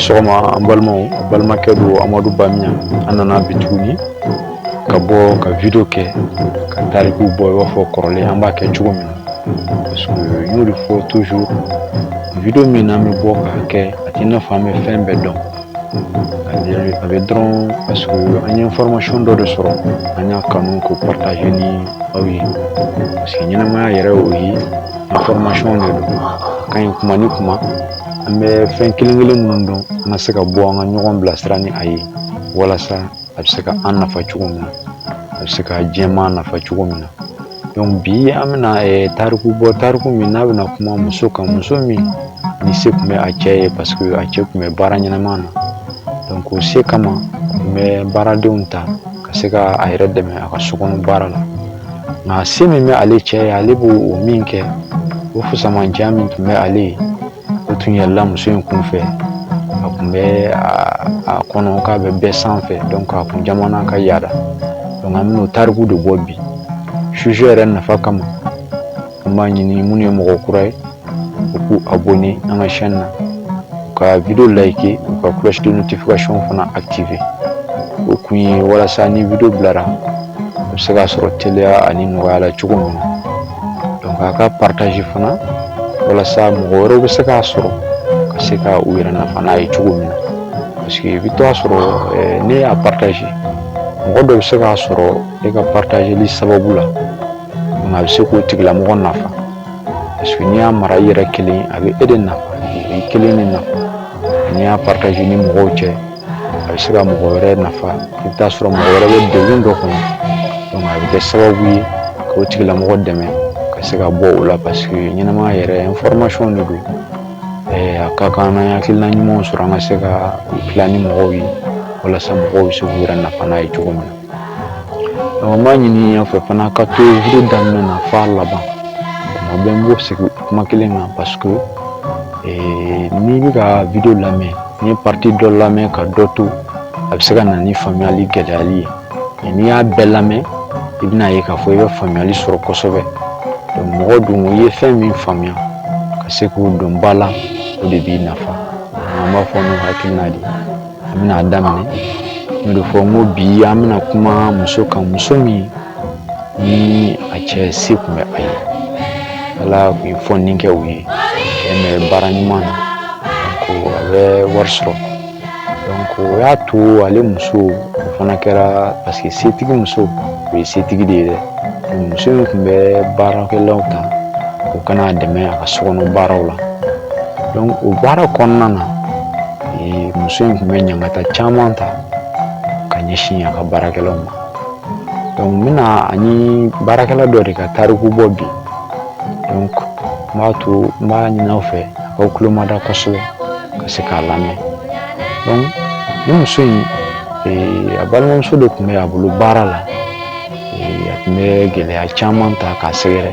sɔgɔma an balimaw an balimakɛ don amadu bamiya an nana bi tuguni ka bɔ ka video kɛ ka tarikuw bɔ i b'a fɔ kɔrɔlen an b'a kɛ cogo min na parce que n y'o de fɔ toujours video min n'an bɛ bɔ k'a kɛ a t'i n'a fɔ an bɛ fɛn bɛɛ dɔn a bɛ dɔrɔn parce que an ye information dɔ de sɔrɔ an y'a kanu k'o partager ni aw ye parce que ɲɛnamaya yɛrɛ y'o ye information de don a ka ɲi kuma ni kuma an bɛ fɛn kelen kelen minnu dɔn an ka se ka bɔ an ka ɲɔgɔn bilasira ni a ye walasa a bɛ se ka an nafa cogo min na a bɛ se ka jama nafa cogo min na bi an bɛna tariku bɔ tariku min n'a bɛna kuma muso kan muso min ni se tun bɛ a cɛ ye parce que a cɛ tun bɛ baara ɲɛnama na donc o se kama a tun bɛ baaradenw ta ka se ka a yɛrɛ dɛmɛ a ka sokɔnɔ baara la nka se min bɛ ale cɛ ye ale b'o min kɛ o fusamanciya min tun bɛ ale ye o tun yɛlɛla muso in kun fɛ a tun bɛ a kɔnɔ k'a bɛ bɛɛ sanfɛ donc a kun jamana ka yaada donc an bɛn'o tariku de bɔ bi sujet yɛrɛ nafa kama an b'a ɲini minnu ye mɔgɔ kura ye u k'u abonner an ka chaîne na ka video liker u ka cloche de notification fana activer o kun ye walasa ni video bilara a bɛ se ka sɔrɔ teliya ani nɔgɔya la cogo min na donc a ka partage fana walasa mɔgɔ wɛrɛw bɛ se k'a sɔrɔ ka se ka u yɛrɛ nafa n'a ye cogo min na parce que i bɛ to a sɔrɔ eh, n'e y'a partage mɔgɔ dɔ bɛ se k'a sɔrɔ e ka partageli sababu la donc a bɛ se k'o tigilamɔgɔ nafa parce que n'i y'a mara i yɛrɛ kelen a bɛ e de nafa i kelen de nafa n'i y'a partage ni mɔgɔw cɛ a bɛ se ka mɔgɔ wɛrɛ nafa i bɛ taa sɔrɔ mɔgɔ wɛrɛ bɛ degun dɔ kɔnɔ donc a bɛ kɛ sababu ye ka o tigilamɔgɔ dɛmɛ ka se ka bɔ o la parce que ɲɛnamaya yɛrɛ information de don a ka kan n'an ye hakilina ɲumanw sɔrɔ an ka se k'a tila ni mɔgɔw ye walasa mɔgɔw bɛ se k'u yɛrɛ nafa n'a ye cogo min na An b'a ɲini aw fɛ fana ka to video daminɛ na f'a laban tuma bɛɛ n b'o segin kuma kelen kan parce que n'i bɛ ka video lamɛn n'i ye partie dɔ lamɛn ka dɔ to a bɛ se ka na ni faamuyali gɛlɛyali ye n'i y'a bɛɛ lamɛn i bɛna ye k'a fɔ i bɛ faamuyali sɔrɔ kosɛbɛ mɔgɔ dun i ye fɛn min faamuya ka se k'o don ba la o de b'i nafa an b'a fɔ n'o hakilina de ye an bɛna daminɛ n'o de fɔ n ko bi an bɛna kuma muso kan muso min ni a cɛ se tun bɛ a ye ala tun ye fɔni kɛ u ye cɛ bɛ baara ɲuman na donc a bɛ wari sɔrɔ o y'a to ale muso o fana kɛra parce que setigi muso o ye setigi de ye dɛ muso in tun bɛ baarakɛlaw ta u ka n'a dɛmɛ a ka sokɔnɔ baaraw la o baara kɔnɔna na Ee, muso in tun bɛ ɲangata caman ta ka ɲɛsin a ka baarakɛlaw ma donc n bɛna a ni baarakɛla dɔ de ka tariku bɔ bi donc n b'a to n b'a ɲini aw fɛ a k'aw tulo mada kosɛbɛ ka se k'a lamɛn donc ni muso in ee, a balimamuso de tun bɛ a bolo baara la ee, a tun bɛ gɛlɛya caman ta k'a sɛgɛrɛ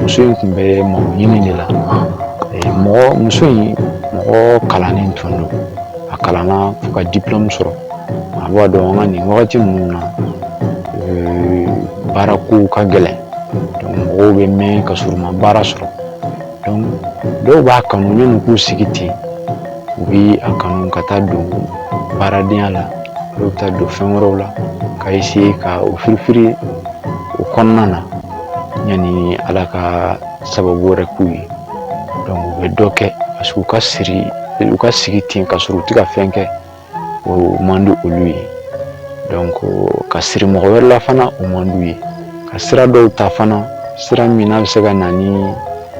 muso in tun bɛ mako ɲini de la muso in mɔgɔ kalannen tun don a kalanna fo ka diplôme sɔrɔ a b'a dɔn an ka nin wagati ninnu na baarako ka gɛlɛn donc mɔgɔw bɛ mɛn ka sɔrɔ u ma baara sɔrɔ dɔw b'a kanu yanni k'u sigi ten u bɛ a kanu ka taa don baaradenya la dɔw bɛ taa don fɛn wɛrɛw la ka essayer ka o firifiri o kɔnɔna na yanni ala ka sababu wɛrɛ k'u ye donc u bɛ dɔ kɛ parce que u ka sigi ten ka sɔrɔ u tɛ ka fɛn kɛ o man di olu ye donc ka siri mɔgɔ wɛrɛ la fana o man d'u ye ka sira dɔw ta fana sira min n'a bɛ se ka na ni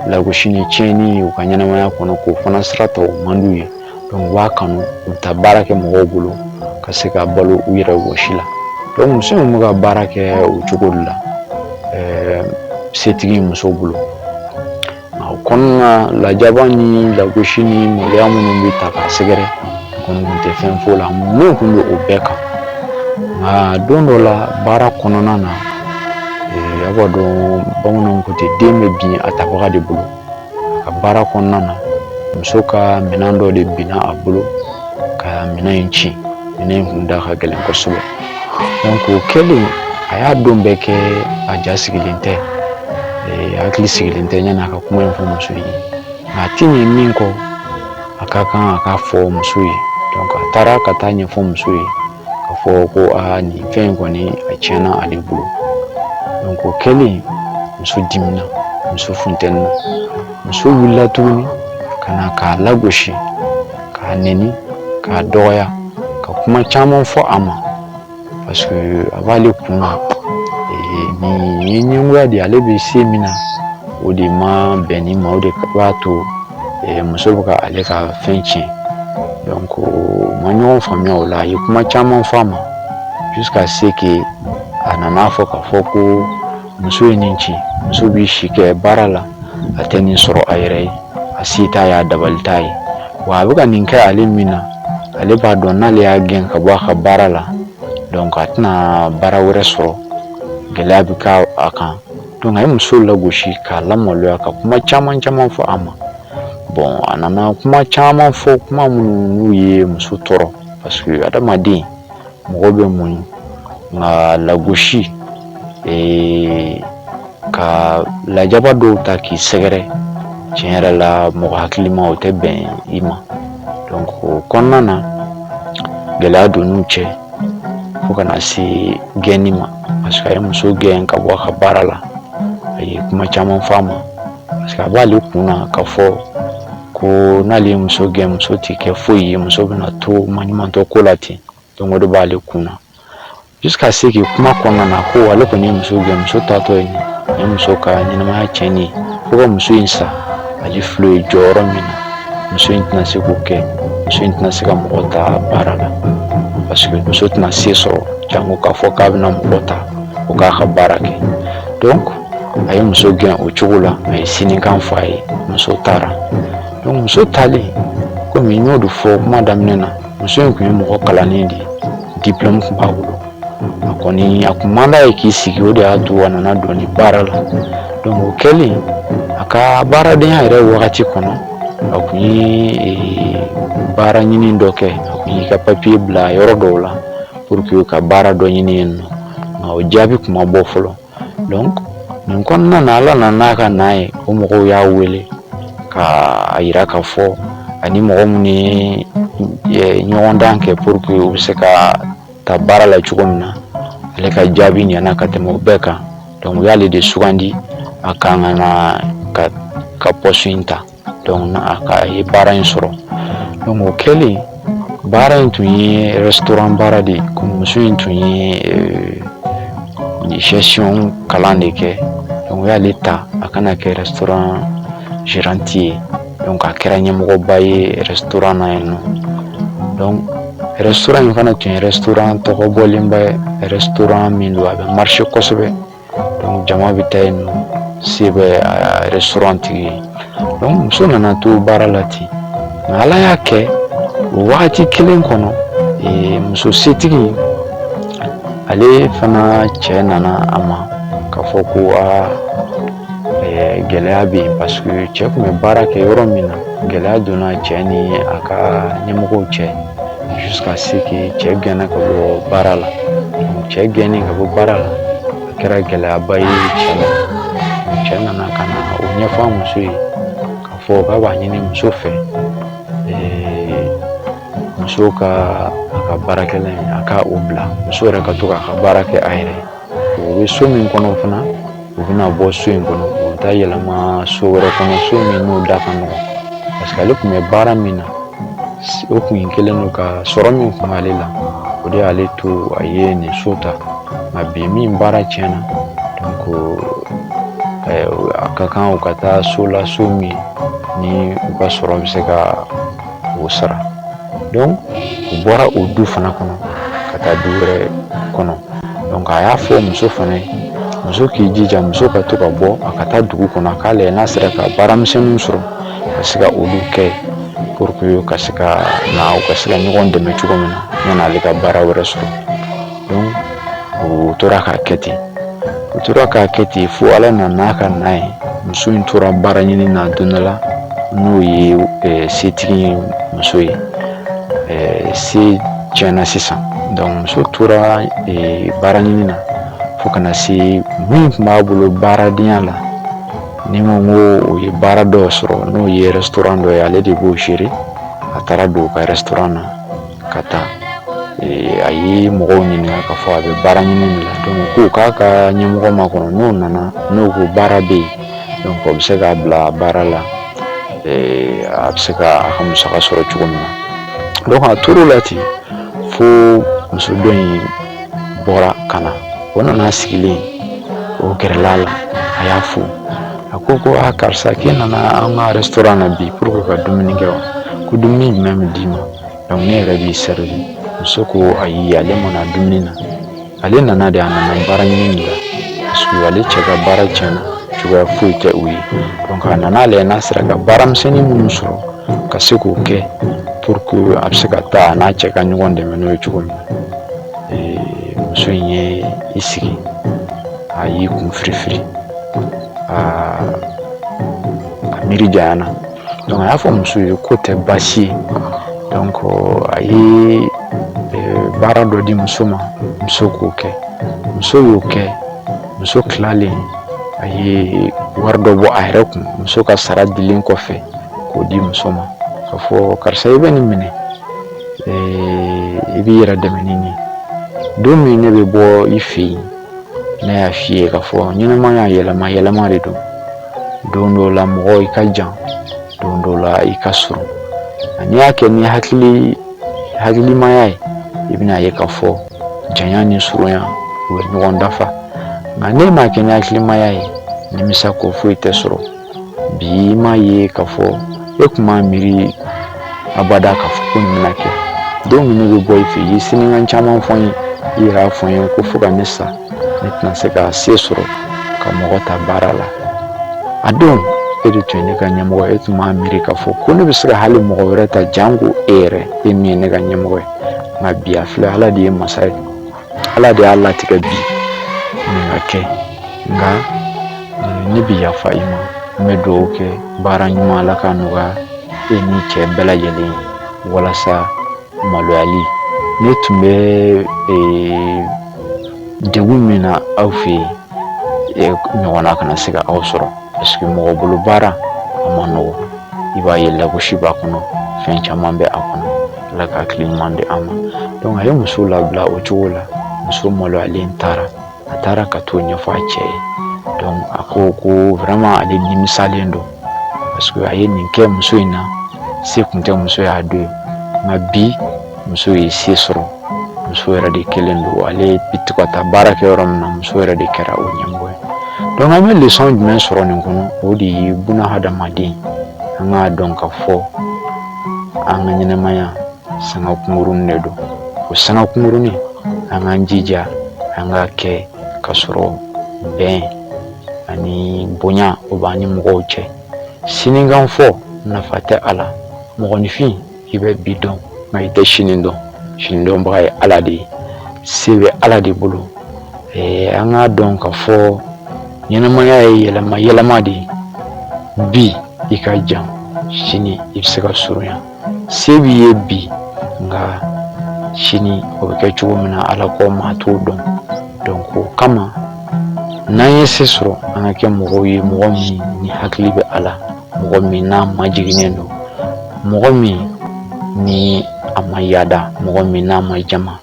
lagosi ni tiɲɛni ye u ka ɲɛnamaya kɔnɔ k'o fana sira ta o man d'u ye u b'a kanu u bɛ taa baara kɛ mɔgɔw bolo ka se ka balo u yɛrɛ wɔsi la muso in bɛ ka baara kɛ o cogo de la setigi muso bolo O kɔnɔna lajaba ni lagosi ni maloya minnu bɛ ta k'a sɛgɛrɛ kɔni tun tɛ fɛn fɔ la minnu tun bɛ o bɛɛ kan nka don dɔ la baara kɔnɔna na a b'a dɔn bamananw ko ten den bɛ bin a tabaga de bolo a ka baara kɔnɔna na muso ka minɛn dɔ de binna a bolo ka minɛn in ci minɛn in tun da ka gɛlɛn kosɛbɛ o kɛlen a y'a don bɛɛ kɛ a ja sigilen tɛ hakili sigilen tɛ yanni a ka kuma in fɔ muso ye nka a ti ɲɛ min kɔ a ka kan a k'a fɔ muso ye donc a taara ka taa ɲɛfɔ muso ye k'a fɔ ko aa nin fɛn in kɔni a tiɲɛna ale bolo donc o kɛlen muso dimina muso funtenina muso wulila tuguni ka na k'a lagosi k'a neni k'a dɔgɔya ka kuma caman fɔ a ma parce que a b'ale kun na nin ye ɲɛngoya de ale bɛ se min na o de ma bɛn nin ma o de b'a to muso bɛ ka ale ka fɛn tiɲɛ donc ma ɲɔgɔn faamuya o la a ye kuma caman fɔ a ma jusqu'à ce que a nana fɔ k'a fɔ ko muso ye nin ci muso bɛ si kɛ baara la a tɛ nin sɔrɔ a yɛrɛ ye a se t'a ye a dabali t'a ye wa a bɛ ka nin kɛ ale min na ale b'a dɔn n'ale y'a gɛn ka bɔ a ka baara la donc a tɛna baara wɛrɛ sɔrɔ gɛlɛya bɛ k'a kan donc a ye muso lagosi k'a lamaloya ka kuma caman caman fɔ a ma bon a nana kuma caman fɔ kuma minnu n'u ye muso tɔɔrɔ parce que adamaden mɔgɔ bɛ muɲu nka lagosi ka lajaba dɔw ta k'i sɛgɛrɛ tiɲɛ yɛrɛ la mɔgɔ hakilima o tɛ bɛn i ma donc o kɔnɔna na gɛlɛya donn'u cɛ fo ka na se gɛnni ma parce que a ye muso gɛn ka bɔ a ka baara la a ye kuma caman fɔ a ma parce que a b'ale kun na k'a fɔ ko n'ale ye muso gɛn muso tɛ kɛ foyi ye muso bɛna to maɲumantɔ ko la ten donc o de b'ale kun na jusqu'à ce que kuma kɔnɔna na ko ale kɔni ye muso gɛn muso taatɔ ye nin ye muso ka ɲɛnamaya tiɲɛnen ye fo ka muso in sa ale filɛ ye jɔyɔrɔ min na muso in tɛna se k'o kɛ muso in tɛna se ka mɔgɔ ta baara la parce que muso tɛna se sɔrɔ jango k'a fɔ k'a bɛna mɔgɔ ta o k'a ka baara kɛ donc a ye muso gɛn o cogo la a ye sinikan fɔ a ye muso taara donc muso taalen komi n y'o de fɔ kuma daminɛ na muso in tun ye mɔgɔ kalannen de ye diplôme tun b'a bolo a kɔni a kun man d'a ye k'i sigi o de y'a to a nana don nin baara la donc o kɛlen a ka baaradenya yɛrɛ wagati kɔnɔ a kun ye baara ɲini dɔ kɛ a kun y'i ka papier bila yɔrɔ dɔw la pour que ka baara dɔ ɲini yen nɔ nka o jaabi kun ma bɔ fɔlɔ nin kɔnɔna na ala nana n'a ka n'a ye o mɔgɔw y'a wele k'a yira k'a fɔ ani mɔgɔ minnu ye ɲɔgɔndan kɛ pour que u bɛ se ka ta baara la cogo min na ale ka jaabi ɲɛna ka tɛmɛ o bɛɛ kan donc u y'ale de sugandi a kan ka na ka poste in ta a ye baara in sɔrɔ o kɛlen baara in tun ye sɔrɔ baara de ye muso in tun ye sɛy kalan de kɛ o y'ale ta a kana kɛ sirante ye a kɛra ɲɛmɔgɔba ye sɔrɔ na ye nɔ sɔrɔ in fana tun tɔgɔ bɔlenba sɔrɔ min don a bɛ mari kosɛbɛ donc jama bɛ taa yen nɔ se bɛ restaurant tigi ye donc muso nana to baara la ten nka ala y'a kɛ o wagati kelen kɔnɔ muso setigi ale fana cɛ nana a ma k'a fɔ ko aa gɛlɛya bɛ yen parce que cɛ tun bɛ baara kɛ yɔrɔ min na gɛlɛya donna cɛ ni a ka ɲɛmɔgɔw cɛ jusqu'à ce que cɛ gɛnna ka bɔ baara la cɛ gɛnni ka bɔ baara la a kɛra gɛlɛyaba ye cɛ ma cɛ nana ka na o ɲɛfɔ a muso ye k'a fɔ k'a b'a ɲini muso fɛ muso ka a ka baarakɛla in a ka o bila muso yɛrɛ ka to k'a ka baara kɛ a yɛrɛ ye O bɛ so min kɔnɔ fana u bɛna bɔ so in kɔnɔ u bɛ taa yɛlɛma so wɛrɛ kɔnɔ so min n'o da ka nɔgɔn parce que ale tun bɛ baara min na o tun ye kelen don ka sɔrɔ min tun b'ale la o de y'ale to a ye nin so ta nka bi min baara tiɲɛna donc a ka kan u ka taa so la so min ni u ka sɔrɔ bɛ se ka o sara u bɔra o du fana kɔnɔ ka taa du wɛrɛ kɔnɔ donc a y'a fɔ muso fana ye muso k'i jija muso ka to ka bɔ a ka taa dugu kɔnɔ a k'a lajɛ n'a sera ka baaramisɛnninw sɔrɔ ka se ka olu kɛ pour que ka se ka na u ka se ka ɲɔgɔn dɛmɛ cogo min na yan'ale ka baara wɛrɛ sɔrɔ u tora k'a kɛ ten u tora k'a kɛ ten fo ala nana ka na ye muso in tora baara ɲini na don dɔ la n'o ye setigi muso ye se tiɲɛna sisan donc muso tora baara ɲini na fo ka na se min tun b'a bolo baaradenya la ni n ko o ye baara dɔ sɔrɔ n'o ye restaurant dɔ ye ale de b'o gérer a taara don u ka restaurant na ka taa a ye mɔgɔw ɲininka k'a fɔ a bɛ baara ɲini ko k'a ka ɲɛmɔgɔ makɔnɔ n'o nana n'o ko baara bɛ yen o bɛ se k'a bila baara la a bɛ se ka a ka musaka sɔrɔ cogo min na a tor'o la ten fo muso dɔ in bɔra ka na o nana sigilen o gɛrɛla la a y'a fo a ko ko karisa k'i nana an ka restaurant na bi pour que ka dumuni kɛ wa ko dumuni jumɛn bɛ d'i ma ne yɛrɛ b'i servir muso ko ayi ale ma na dumuni na ale nana de a nana baara ɲini de la parce que ale cɛ ka baara tiɲɛna cogoya foyi tɛ u ye a nana lajɛ n'a sera ka baaramisɛnnin minnu sɔrɔ ka se k'o kɛ pour que a bɛ se ka taa a n'a cɛ ka ɲɔgɔn dɛmɛ n'o ye cogo min na muso in ye i sigi a y'i kun firifiri aa a miiri janyana Donc a y'a fɔ muso ye k'o tɛ baasi ye donc a ye baara dɔ di muso ma muso k'o kɛ muso y'o kɛ muso tilalen a ye wari dɔ bɔ a yɛrɛ kun muso ka sara dilen kɔfɛ k'o di muso ma k'a fɔ karisa i bɛ nin minɛ i b'i yɛrɛ dɛmɛ ni nin ye don min ne bɛ bɔ i fɛ yen ne y'a f'i ye k'a fɔ ɲɛnamaya yɛlɛma yɛlɛma de don don dɔw la mɔgɔ i ka jan don dɔw la i ka surun n'i y'a kɛ ni hakilimaya ye i bɛn'a ye k'a fɔ janya ni surunya u bɛ ɲɔgɔn dafa nka n'e m'a kɛ ni hakilimaya ye nimisa kɔ foyi tɛ sɔrɔ bi i m'a ye k'a fɔ e tun m'a miiri abada k'a fɔ ko nin bɛna kɛ don min ne bɛ bɔ i fɛ i ye sinikan caman fɔ n ye i yɛrɛ y'a fɔ n ye ko fo ka ne sa ne tɛna se ka se sɔrɔ ka mɔgɔ ta baara la a don e de tun ye ne ka ɲɛmɔgɔ e tun m'a miiri k'a fɔ ko ne bɛ se ka hali mɔgɔ wɛrɛ ta janko e yɛrɛ e min ye ne ka ɲɛmɔgɔ ye nka bi a filɛ ala de ye masa ye ala de y'a latigɛ bi nin ka kɛ nka ne bɛ yafa i ma n bɛ dugawu kɛ baara ɲuman ala k'a nɔgɔya e ni cɛ bɛɛ lajɛlen ye walasa maloyali ne tun bɛ degun min na aw fɛ yen ɲɔgɔnna kana se ka aw sɔrɔ parce que mɔgɔ bolo baara a man nɔgɔ i b'a ye lagosi b'a kɔnɔ fɛn caman bɛ a kɔnɔ ala ka hakili ɲuman di an ma donc a ye muso labila o cogo la muso maloyalen taara a taara ka t'o ɲɛfɔ a cɛ ye donc a ko ko vraiment ale nimisalen don parce que a ye nin kɛ muso in na se kun tɛ muso y'a don ye nka bi muso ye se sɔrɔ muso yɛrɛ de kɛlen don ale bi to ka taa baara kɛ yɔrɔ min na muso yɛrɛ de kɛra o ɲɛmɔgɔ ye donc an bɛ leçon jumɛn sɔrɔ nin kɔnɔ o de ye buna hadamaden an k'a dɔn k'a fɔ an ka ɲɛnamaya sanga kunkurunin de don o sanga kunkurunin an k'an jija an k'a kɛ k'a sɔrɔ bɛn ani bonya o b'an ni mɔgɔw cɛ sinikanfɔ nafa tɛ a la mɔgɔninfin i bɛ bi dɔn nka i tɛ sini dɔn sini dɔnbaga ye ala de ye se bɛ ala de bolo an k'a dɔn k'a fɔ ɲɛnamaya ye yɛlɛma yɛlɛma de ye bi i ka jan sini i bɛ se ka surunya se b'i ye bi nka sini o bɛ kɛ cogo min na ala kɔ maa t'o dɔn donc o kama n'an ye se sɔrɔ an ka kɛ mɔgɔw ye mɔgɔ min ni hakili bɛ a la mɔgɔ min n'a majiginnen don mɔgɔ min ni a ma yaada mɔgɔ min n'a ma jama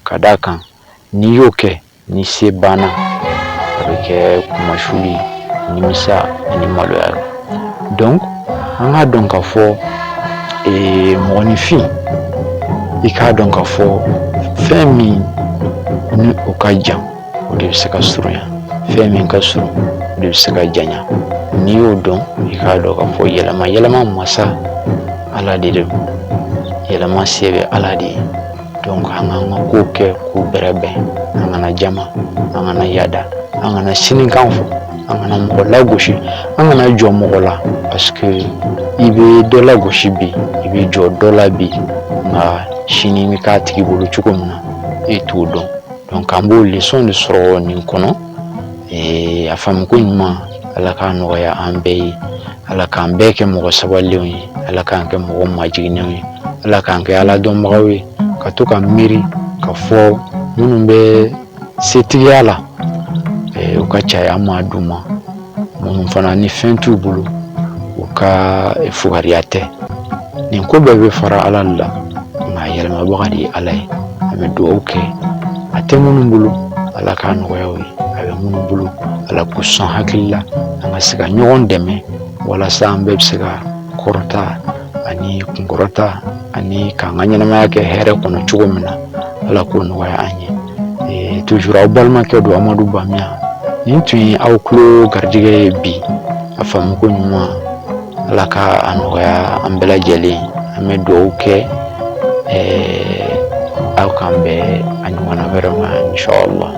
ka d'a kan n'i y'o kɛ ni se banna a bɛ kɛ kunmasuli nimisa ani maloya donc an k'a dɔn ka fɔ mɔgɔninfin i k'a dɔn ka fɔ fɛn min ni o ka jan o de bɛ se ka surunya fɛn min ka surun o de bɛ se ka janya n'i y'o dɔn i k'a dɔn ka fɔ yɛlɛma yɛlɛma masa ala de don yɛlɛma se bɛ ala de ye an k'an ka kow kɛ k'u bɛrɛbɛn an kana jama an kana yada an kana sinikan fɔ an kana mɔgɔ lagosi an kana jɔ mɔgɔ la parce que i bɛ dɔ lagosi bi i bɛ jɔ dɔ la bi nka sini bɛ k'a tigi bolo cogo min na e t'o dɔn donc an b'o leçon de sɔrɔ nin kɔnɔ a faamuko ɲuman ala k'a nɔgɔya an bɛɛ ye ala k'an bɛɛ kɛ mɔgɔ sabalilenw ye ala k'an kɛ mɔgɔ majiginnenw ye ala k'an kɛ ala dɔnbagaw ye ka to ka miiri ka fɔ minnu bɛ setigiya la u ka caya an ma d'u ma minnu fana ni fɛn t'u bolo u ka fugariya tɛ nin ko bɛɛ bɛ fara ala la nka yɛlɛmabaga de ye ala ye an bɛ dugawu kɛ a tɛ minnu bolo ala k'a nɔgɔya u ye a bɛ minnu bolo ala k'u sɔn hakili la an ka se ka ɲɔgɔn dɛmɛ walasa an bɛɛ bɛ se ka kɔrɔta ani kunkɔrɔta ani k'an ka ɲɛnamaya kɛ hɛrɛ kɔnɔ cogo min na ala k'o nɔgɔya an ye ee, toujours aw balimakɛ don amadu bamiya nin tun ye aw tulo garijɛgɛ ye bi a faamuko ɲuman ala ka a nɔgɔya an bɛɛ lajɛlen an bɛ dugawu kɛ ee, aw k'an bɛn a ɲɔgɔnna wɛrɛ ma inshallah